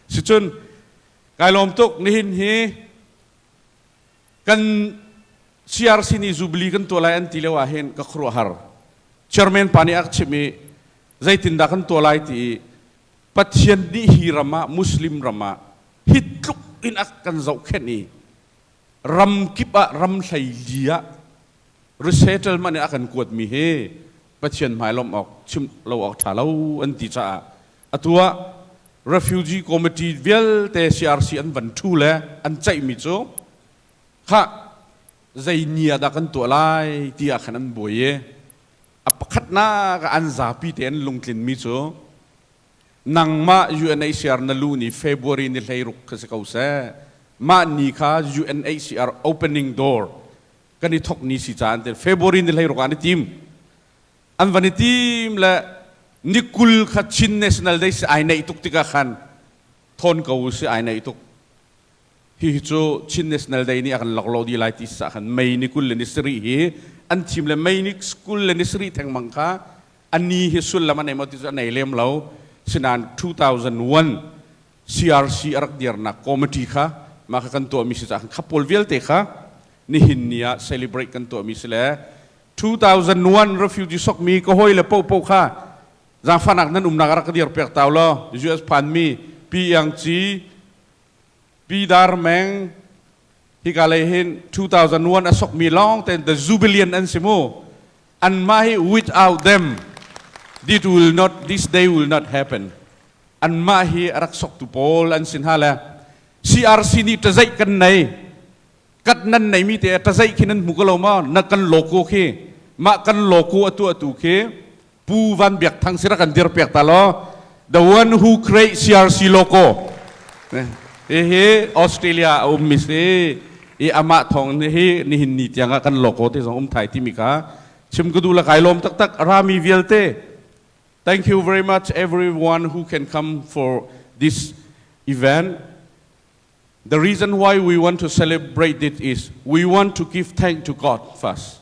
Sicun kai lawm tuk nihin hi kan CRC nih Jubilee kan tuah lai an ti lio ah hin ka khuaruahhar. Chairman pa nih a chim i zeitindah kan tuah lai ti i Pathian nih hi ram ah Muslim ram ah hi tluk in a kan zohkhenh i ram kip ah ram hleili ah resettlement in a kan kuatmi hi Pathian hmai lawmh awk chim lo awk ṭha lo an ti caah Atu ah Refugee Committee vialte CRC an van ṭhu le an ceihmi cu khah zei ni ah dah kan tuah lai ti ah khan an buai i a pakhatnak ah an zapi te an lungtlinmi cu nangmah UNHCR na lu ni February ni hleiruk khi si ko seh mah ni kha UNHCR opening door kan i thok ni si caah an ti February ni hleiruk ah an i tim an van i tim le ni kul kha Chin National Day si ai neih tuk tikah khan thawn ko u si ai neih tuk hihi cu Chin National Day nih a kan loklo dih lai ti sa khan mei ni kul le ni sarih hi an thim le mei ni kul le ni sarih thengmang kha a ni hi sullam a nei maw ti cu a nei lem lo sinain 2001 CRC a rak dirnak committee kha mah ka kan tuahmi si cahkan khapawl vialte kha nihin ni ah celebrate kan tuahmi si le 2001 refugee sokmi ka hawi le popo kha zaangfahnak nan umnak rak ka dir piak tau law US phanmi Pi Yang Ci Pi Dar Meng hika lei hin 2001 a sokmi lawng ten the jubilee an si mu Anmah hi without them this will not this day will not happen. Anmah hi a rak soktu pawl an si hna le CRC nih tazaih kan nei kat nan nei mi te tazaih khi nan hmu ko lo ma na kan logo khi mah kan logo a tuahtu khi Pu Van Biak Thang si ra kan dir pek ta law The one who creates CRC logo. Hihi Australia a ummi si i amah thawng hi nihin ni tiang ah kan logo te zong um thai timi kha chim ka du la kai lawm taktak rami vialte thank you very much everyone who can come for this event the reason why we want to celebrate it is we want to give thanks to God first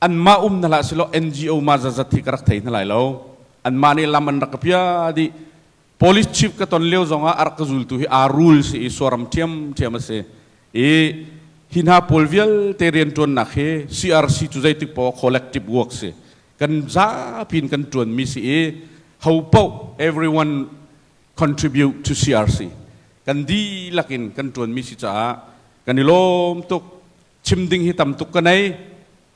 anmah um na hlah silo NGO ma zazat hi ka rak thei hna lai lo anmah nih lam an rak ka pia di police chief ka ton leo zong ah a rak ka zultu hi a rule si i suaram thiam thiam a si i hi hna pawl vialte riantuannak hi CRC cu zeitik po collective work si kan zapin kan tuan mi si i ho po everyone contribute to CRC kan dilakin kan tuan mi si caah kan i lawm tuk chim ding hi tam tuk ka nei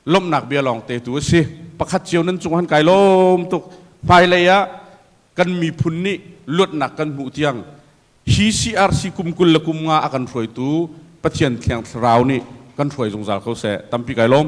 lawmhnak bia lawng te tu a si pakhat cio nan cung han kai lawm tuk hmailei ah kan miphun nih luatnak kan hmuh tiang hi CRC kum kul le kum nga a kan hruaitu Pathian Thiang Thlarau nih kan hruai zungzal ko seh tampi kai lawm